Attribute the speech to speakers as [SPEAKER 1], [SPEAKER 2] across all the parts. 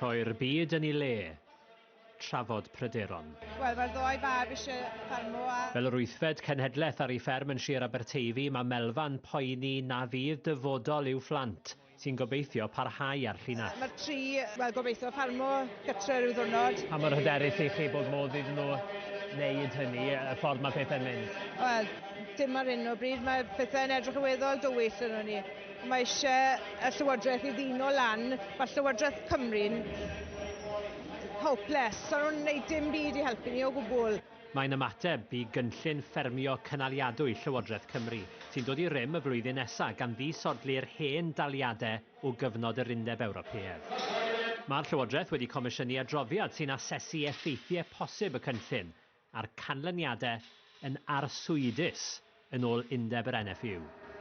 [SPEAKER 1] Rhoi'r byd yn ei le. Trafod pryderon. Wel, mae'r ddoi
[SPEAKER 2] fab eisiau ffarmo a... Fel yr wythfed cenhedlaeth
[SPEAKER 1] ar ei fferm yn Sir Aberteifi, mae Melfa'n poeni na fydd dyfodol i'w phlant, sy'n gobeithio parhau â'r llinell. Mae'r tri, wel,
[SPEAKER 2] gobeithio ffarmo gytre rhyw ddwrnod. Pa mor hyderus i chi
[SPEAKER 1] bod modd iddyn nhw wneud hynny, y ffordd mae pethau'n mynd? Wel, dim
[SPEAKER 2] ar hyn o bryd. Mae pethau'n edrych yn weddol dywyll arnon ni. Mae eisiau y Llywodraeth i ddino lan, mae Llywodraeth Cymru'n hopeless, so nhw'n gwneud dim byd i helpu ni o gwbl. Mae'n ymateb
[SPEAKER 1] i gynllun ffermio cynaliadwy Llywodraeth Cymru, sy'n dod i rym y flwyddyn nesaf gan ddisodli'r hen daliadau o gyfnod yr Undeb Ewropeaidd. Mae'r Llywodraeth wedi comisiynu adroddiad sy'n asesu effeithiau posib y cynllun, a'r canlyniadau yn arswydus, yn ôl undeb yr NFU.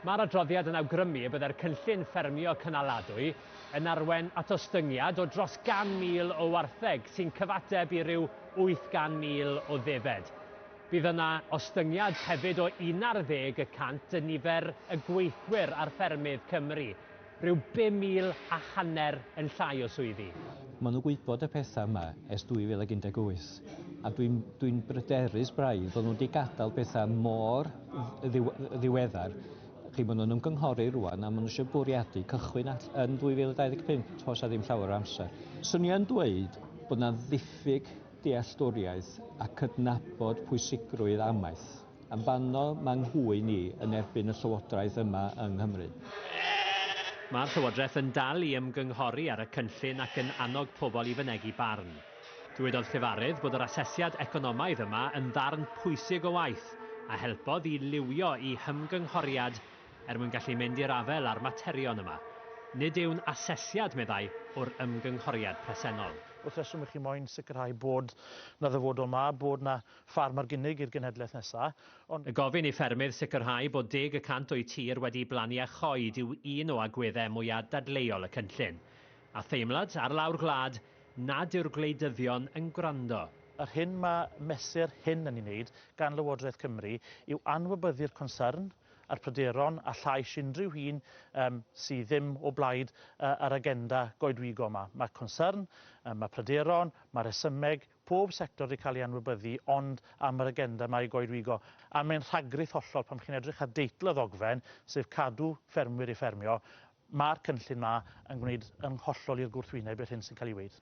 [SPEAKER 1] Mae'r adroddiad yn awgrymu y byddai'r cynllun ffermio cynaladwy yn arwain at ostyngiad o dros 100,000 o wartheg, sy'n cyfateb i ryw 800,000 o ddefed. Bydd yna ostyngiad hefyd o unarddeg y cant yn nifer y gweithwyr ar ffermydd Cymru, Rhyw bum mil a hanner yn llai o swyddi. Maen nhw'n gwybod
[SPEAKER 3] y pethau yma ers 2018, a dwi'n, dwi'n bryderus braidd fod nhw wedi gadael pethau mor ddiw- ddiweddar. Chi, maen nhw'n ymgynghori rŵan a maen nhw eisiau bwriadu cychwyn all- yn 2025, toes â ddim llawer o amser. Swn i yn dweud bod 'na ddiffyg dealltwriaeth a cydnabod pwysigrwydd amaeth. Am banno mae nghŵyn i yn erbyn y Llywodraeth yma yng Nghymru?
[SPEAKER 1] Mae'r Llywodraeth yn dal i ymgynghori ar y cynllun ac yn annog pobl i fynegi barn. Dywedodd llefarydd bod yr asesiad economaidd yma yn ddarn pwysig o waith a helpodd i liwio i hymgynghoriad er mwyn gallu mynd i'r afael â'r materion yma. Nid yw'n asesiad, meddai, o'r ymgynghoriad presennol. Wrth reswm i chi moyn
[SPEAKER 4] sicrhau bod 'na ddyfodol 'ma, bod 'na Ffarm ar gynnig i'r genhedlaeth nesaf, ond. Y gofyn i
[SPEAKER 1] ffermydd sicrhau bod deg y cant o'u tir wedi blannu a choed yw un o agweddau mwyaf dadleuol y cynllun. A theimlad, ar lawr gwlad, nad yw'r gwleidyddion yn gwrando. Yr hyn mae
[SPEAKER 4] mesur hyn yn ei wneud gan Lywodraeth Cymru yw anwybyddu'r concern a'r pryderon a llais unrhyw un um, sydd ddim o blaid uh, yr agenda goedwigo yma. Mae concern, um, mae pryderon, mae rhesymeg, Pob sector 'di cael ei anwybyddu ond am yr agenda 'ma i goedwigo. A mae'n rhagrith hollol pan chi'n edrych ar deitl y ddogfen, sef cadw ffermwyr i ffermio, ma'r cynllun 'ma yn gwneud yn hollol i'r gwrthwyneb i'r hyn sy'n cael ei weud.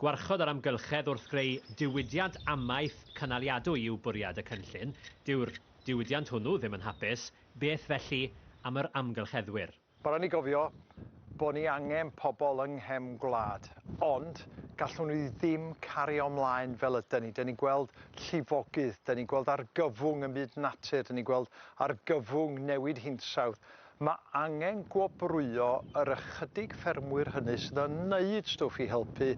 [SPEAKER 4] Gwarchod yr
[SPEAKER 1] amgylchedd wrth greu diwydiant amaeth cynaliadwy yw bwriad y cynllun. Dyw'r diwydiant hwnnw ddim yn hapus, beth felly am yr amgylcheddwyr? Mae'n rhaid ni gofio
[SPEAKER 5] bod ni angen pobl yng nghefn gwlad, ond gallwn ni ddim cario ymlaen fel ydyn ni. Dyn ni'n gweld llifogydd, dyn ni'n gweld argyfwng ym myd natur, dyn ni'n gweld argyfwng newid hinsawdd. Mae angen gwobrwyo yr ychydig ffermwyr hynny sydd yn wneud stwff i helpu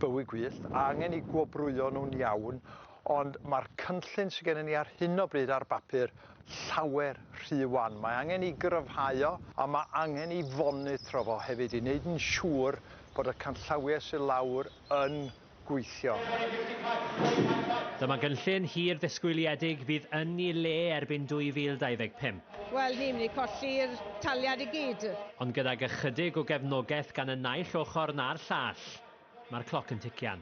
[SPEAKER 5] bywyd gwyllt, a angen i gwobrwyo nhw'n iawn, Ond mae'r cynllun sydd gennym ni ar hyn o bryd ar bapur llawer rhy wan. Mae angen i gryfhau o a mae angen i fonitro fo hefyd i wneud yn siŵr bod y canllawiau sydd lawr yn gweithio.
[SPEAKER 1] Dyma gynllun hir ddisgwyliedig fydd yn ei le erbyn 2025. Wel, ni'n mynd i
[SPEAKER 2] colli'r taliad i gyd. Ond gydag
[SPEAKER 1] ychydig o gefnogaeth gan y naill ochr na'r llall, mae'r cloc yn tician.